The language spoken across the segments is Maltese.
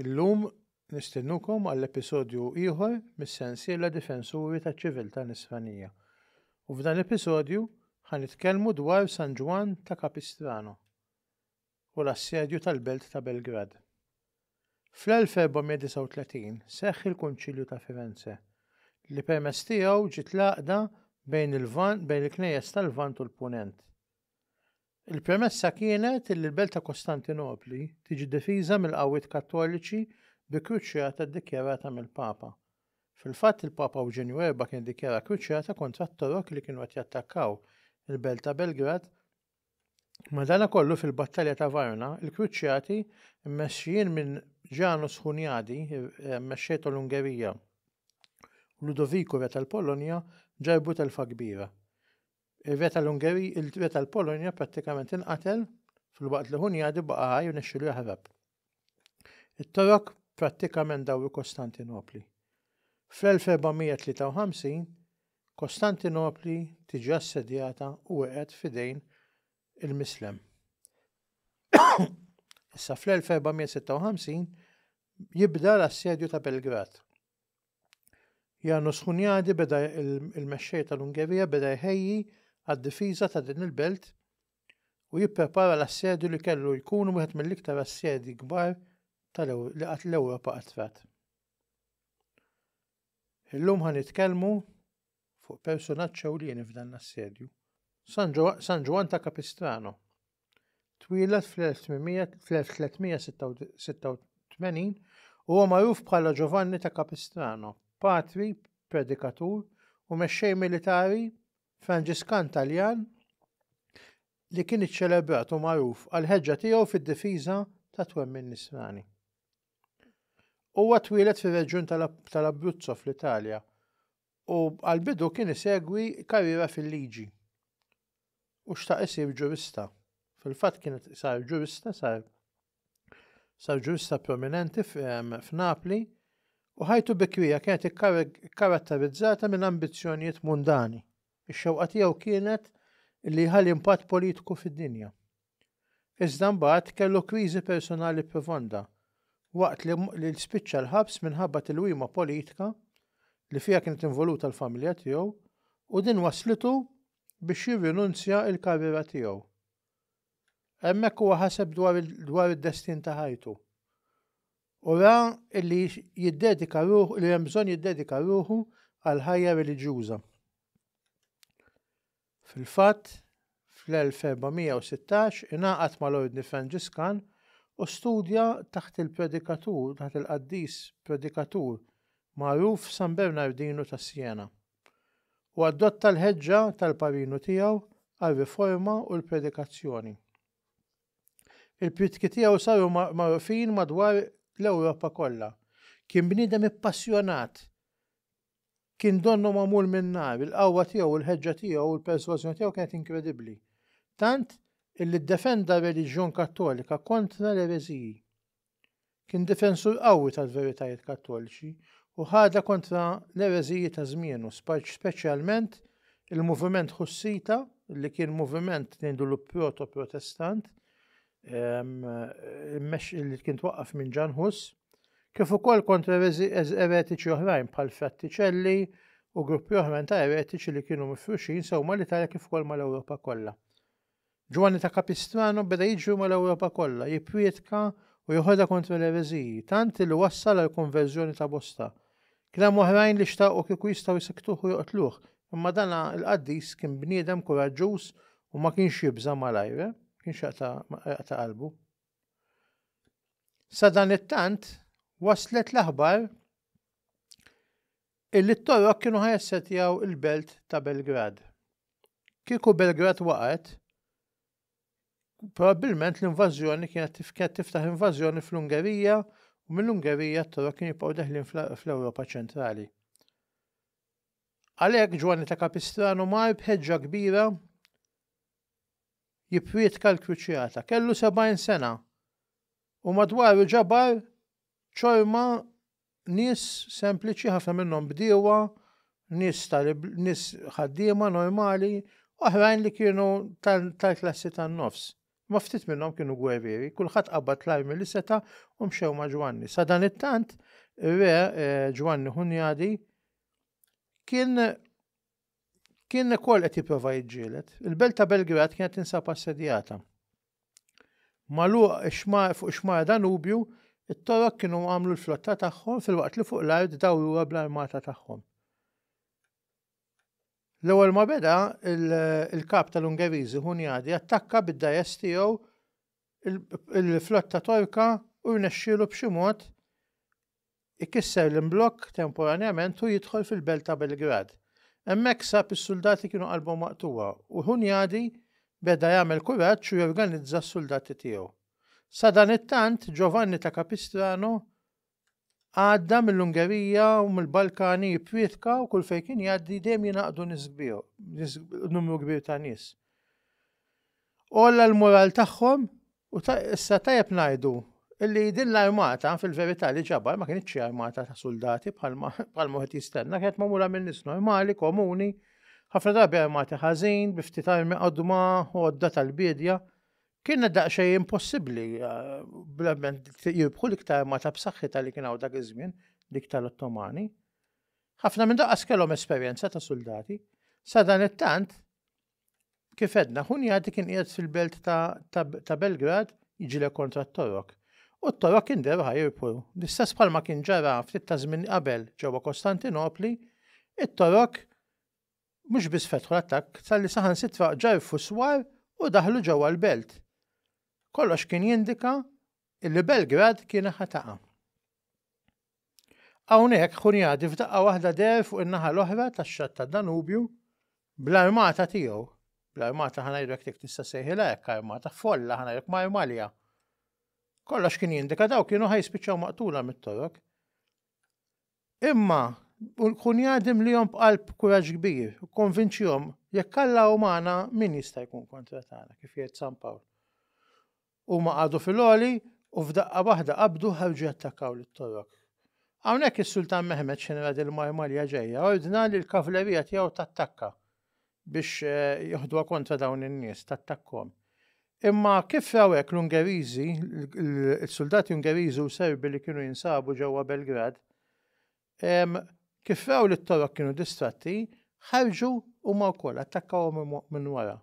Illum nistennukom għall episodju ieħor mis-sensiela Difensuri taċ-Ċiviltà Nisranija. U f'dan l-episodju ħanitkellmu dwar San Ġwann ta' Capistrano. u l-assedju tal-belt ta' Belgrad. Fl-1439 seħħ il-Kunċilju ta' Firenze, li permezz tiegħu ġiet l-għaqda bejn il-Lvant bejn il-Knejjes tal-Lvant u l-Punent. Il-premessa kienet li l-belt ta' Kostantinopli tiġi difiża mill-qawwiet Kattoliċi bi kruċjata ddikjarata mill-Papa. Fil-fatt il-Papa Ewġenju Erba' kien iddikjara kruċjata kontra t-Torok li kienu qed jattakkaw il-belt ta' Belgrad Madanakollu fil-battalja ta' Vajona, il-Kruċjati, mmexxijin minn Ġanus Hunjadi, eh, mexxej tal-Ungerija, u Ludoviku re tal-Polonja, ġarbu telfa kbira. Ir-re tal-Ungerija, il-re tal-Polonja prattikament inqatel fil-waqt li Hunjadi baqa' ħaj u nexxilu jaħrab. It-Torok prattikament dawru Kostantinopli. Fl-1453, Kostantinopli tiġi assedjata u weqgħet f'idejn il-Mislem. Issa fl-1456 jibda l-assedju ta' Belgrad. Janus Hunjadi beda il-mexxej tal-Ungerija beda jħejji għad-difiża ta' din il-belt u jipprepara l-assedju li kellu jkun wieħed mill-iktar assedji kbar li qatt l-Ewropa qattrat. Illum ħa nitkellmu fuq personaġġ ewlieni f'dan l-assedju. San Ġwan ta' Capistrano. Twieled fl-1386 huwa magħruf bħala Giovanni ta' Capistrano, patri, predikatur u mexxej militari Franġiskan Taljan li kien iċċelebrat u magħruf għall-ħeġġa tiegħu fid-difiża tat-twemmin Nisrani. Huwa twieled fir-reġjun tal-Abruzzo fl-Italja u għall-bidu kien isegwi karriera fil-liġi u xtaq isir ġurista. Fil-fatt kien sar ġurista sar sar ġurista prominenti f'Napli u ħajtu bikrija kienet ikkaratterizzata minn ambizzjonijiet mundani. Ix-xewqa tiegħu kienet li jħalli impatt politiku fid-dinja. Iżda mbagħad kellu kriżi personali profonda waqt li spiċċa l-ħabs minħabba tilwima politika li fiha kienet involuta l-familja tiegħu u din wasslitu biex jirrinunzja l-karriera tiegħu. Hemmhekk huwa ħaseb dwar id-destin ta' ħajtu u ra li jiddedika ruħu li hemm bżonn jiddedika ruħu għal ħajja reliġjuża. Fil-fatt, fl-1416 ingħaqad mal-Ordni Franġiskan u studja taħt il-predikatur taħt il-qaddis predikatur magħruf San Bernardinu ta' Siena, u adotta l-ħeġġa tal-parinu tiegħu għar-riforma u l-predikazzjoni. Il-prietki tiegħu saru magħrufin madwar l-Ewropa kollha. Kien bniedem ippassjonat Kien donnu magħmul min-nar, il-qawwa tiegħu u l-ħeġġa tiegħu u l-persważjoni tiegħu kienet inkredibbli, tant illi ddefenda r-reliġjon Kattolika kontra l-ereżiji. Kien difensur qawwi tal-veritajiet Kattoliċi u ħadha kontra l-ereżiji ta' żmienu, speċjalment il-moviment Ħussita, li kien moviment ngħidulu proto-Protestant, immexxi li kien twaqqaf minn Ġan Hus, kif ukoll kontra eretiċi oħrajn bħal frattiċelli u gruppi oħrajn ta' eretiċi li kienu mifruxin sew mal-Italja kif ukoll mal-Ewropa kollha. Ġwanni ta' Kapistrano beda jiġri mal-Ewropa kollha, jipprietka u joħodha kontra l-ereżiji, tant li wassal għal konverżjoni ta' bosta. Kien hemm oħrajn li xtaqu kieku jistgħu jsikktuh u joqtluh, imma dan il-qaddis kien bniedem kuraġġuż u ma kienx jibża' malajr, ma kienx jaqta' qalbu. Sadanittant, waslet l-aħbar illi t-Torok kienu ħajessetjaw il-belt ta' Belgrad. Kieku Belgrad waqgħet, Probabbilment l-invażjoni kienet tifket tiftaħ invażjoni fl-Ungerija u mill-Ungerija t-Torok kien jibqgħu deħlin fl-Ewropa ċentrali. Għalhekk Ġwanni ta' Kapistrano mar b'ħeġġa kbira jipprietka l-kruċjata. Kellu 70 sena u madwaru ġabar ċorma Nies sempliċi, ħafna minnhom bdiewa, nies nies ħaddiema normali, oħrajn li kienu tal-klassi tan-nofs. Ma ftit minnhom kienu gwerrieri, kulħadd qabad l-armi li seta' u mxew ma' Ġwanni. Sa dan it-tant, re eh, Ġwanni Hunjadi kien kien ukoll qed jipprova jiġġieled. Il-belt ta' Belgrad kienet tinsab assedjata. Maluq xmar fuq xmar Danubju, it-Torok kienu għamlu l-flotta tagħhom filwaqt li fuq l-art dawruha bl-armata tagħhom. L-ewwel ma beda il-kap tal-Ungeriżi Hunjadi attakka bid-dajes tiegħu il-flotta Torka u rnexxielu b'xi mod Ikisser l-imblokk temporanjament u jidħol fil-belt ta' Belgrad. Hemmhekk sab is-suldati kienu qalbhom maqtugħa u Hunyadi beda jagħmel kuraġġ u jorganizza s-suldati tiegħu. Sadanittant, Giovanni ta' Capistrano għadda mill-Ungerija u mill-Balkani jipprietka u kull fejn kien jgħaddi dejjem jingħaqdu nies kbir, numru kbir ta' nies. Olla l-moral tagħhom U ta' issa tajjeb ngħidu li din l-armata fil-verità li ġabar ma kinitx xi armata ta' suldati bħalma bħalma wieħed jistenna, kienet magħmula minn nies normali, komuni, ħafna drabi armati ħażin, bi ftit armi qodma, għodda tal-biedja. Kienet daqsxejn impossibbli bl-arment jirbħu l-iktar armata b'saħħitha li kien hawn dak iż-żmien, dik tal-Ottomani. Ħafna minn daqas kellhom esperjenza ta' suldati. Sadanittant, Kif għedna, Hunjadi kien qiegħed fil-belt ta' Belgrad jiġilek kontra t-Torok. U t-Torok kien derħa jirpu. L-istess bħalma kien ġara ftit ta' żmien qabel ġewwa Kostantinopli, it-Torok mhux biss fetħu l-attakk tal-li saħansitra ġarfu swar u daħlu ġewwa l-belt. Kollox kien jindika li Belgrad kien ħataqa. Hawnhekk Hunjadi f'daqqa waħda deher fuq in-naħa l-oħra tax-xatt tad-Danubju bl-armata tiegħu, bl-armata ħa ngħidlek jekk tista' ssejħilha hekk armata, folla ħa ngħidlek marmalja. Kollox kien jindika daw kienu ħa jispiċċaw maqtula mit-Torok. Imma kun jadim li jom b'qalb kuraġġ kbir, konvinċjom, jekk Alla u magħna min jista' jkun kontra tagħna kif jgħid San Pawl. Huma qagħdu fil-għoli u f'daqqa waħda qabdu u ħarġu jattakkaw lit-Torok. Hawnhekk is-Sultan Mehmed, xenera dil-Marmarja ġejja, ordna li l-kavlerija tiegħu tattakka biex joħduha kontra dawn in-nies, tattakkahom. Imma kif raw hekk l-Ungeriżi, is-suldati Ungeriżi u Serbi li kienu jinsabu ġewwa Belgrad, Kif raw li t-Torok kienu distratti, ħarġu huma wkoll attakkawhom minn wara.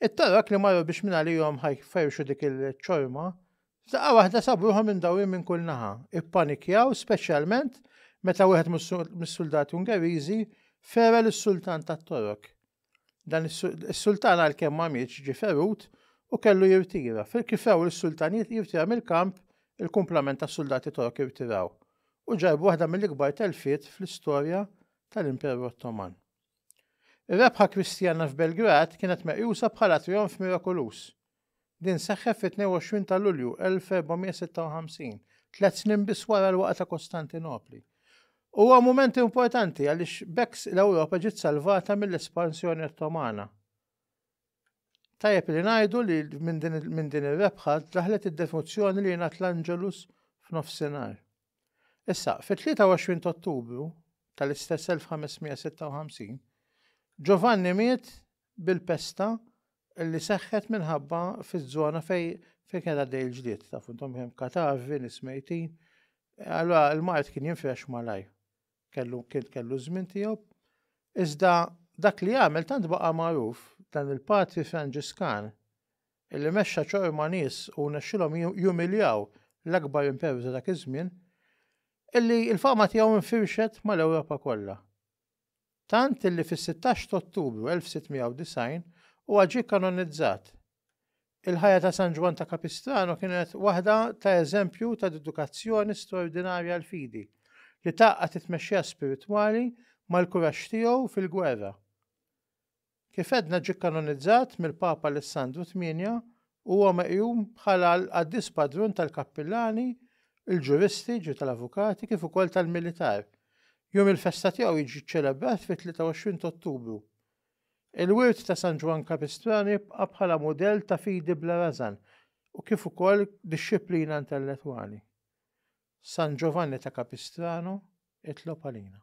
It-Torok li marru biex minn għalihom ħajferxu dik il-ċorma, f'daqqa waħda sabruhom minn dawrin minn kull naħa. Ippanikjaw speċjalment meta wieħed mis-suldati Ungeriżi fera lis-Sultan tat-Torok Dan is-sultan għalkemm ma mietx ġie ferut u kellu jirtira. Kif raw is-sultanijiet jirtira mill-kamp, il-kumplament tas-suldati Torok irtiraw u ġarbu waħda mill-ikbar telfiet fl-istorja tal-Imperu Ottoman. Ir-rebħa Kristjana f'Belgrad kienet meqjusa bħala trijonf mirakoluż Din seħħet fit-22 ta' Lulju 1456, tliet snin biss wara l-waqgħa ta' Kostantinopli. Huwa mument importanti għaliex b'hekk l-Ewropa ġiet salvata mill-espansjoni Ottomana. Tajjeb li ngħidu li minn din ir-rebħa daħlet id-devozzjoni li jingħad l-Angelus f'nofsinhar. Issa, fit-23 ta' Ottubru tal-istess 1556, Ġovanni miet bil-pesta li seħħet minħabba fiż-żona fejn fejn kien għaddej il-ġlied, tafu intom hemm katavi, nies mejtin. Allura l-mart kien jinfrex malaj. Kellu kien kellu żmien tiegħu. Iżda dak li għamel tant baqa' magħruf dan il-patri Franġiskan illi mexxa ċor ma' nies u nexxilhom jumiljaw l-akbar imperu ta' dak iż-żmien illi l-fama tiegħu nfirxet mal-Ewropa kollha. Tant illi fis-sittax t'Ottubru 1690 huwa ġie kanonizzat. Il-ħajja ta' San Ġwann ta' Capistrano kienet waħda ta' eżempju ta' dedikazzjoni straordinarja għall-fidi, li tgħaqqad it-tmexxija spiritwali mal-kuraġġ tiegħu fil-gwerra. Kif għedna ġie kkanonizzat mill-Papa Alessandru Tmienja u huwa meqjum bħala l-qaddis patrun tal-kappillani, il-ġuristi, ġifieri tal-avukati, kif ukoll tal-militar. Jum il-festa tiegħu jiġi ċċelebrat fit-23 t'Ottubru. Il-wirt ta' San Ġwann Kapistrani jibqa' bħala mudell ta' fidi bla rażan u kif ukoll dixxiplina intellettwali. San Ġovanni ta' Capistrano itlob għalina.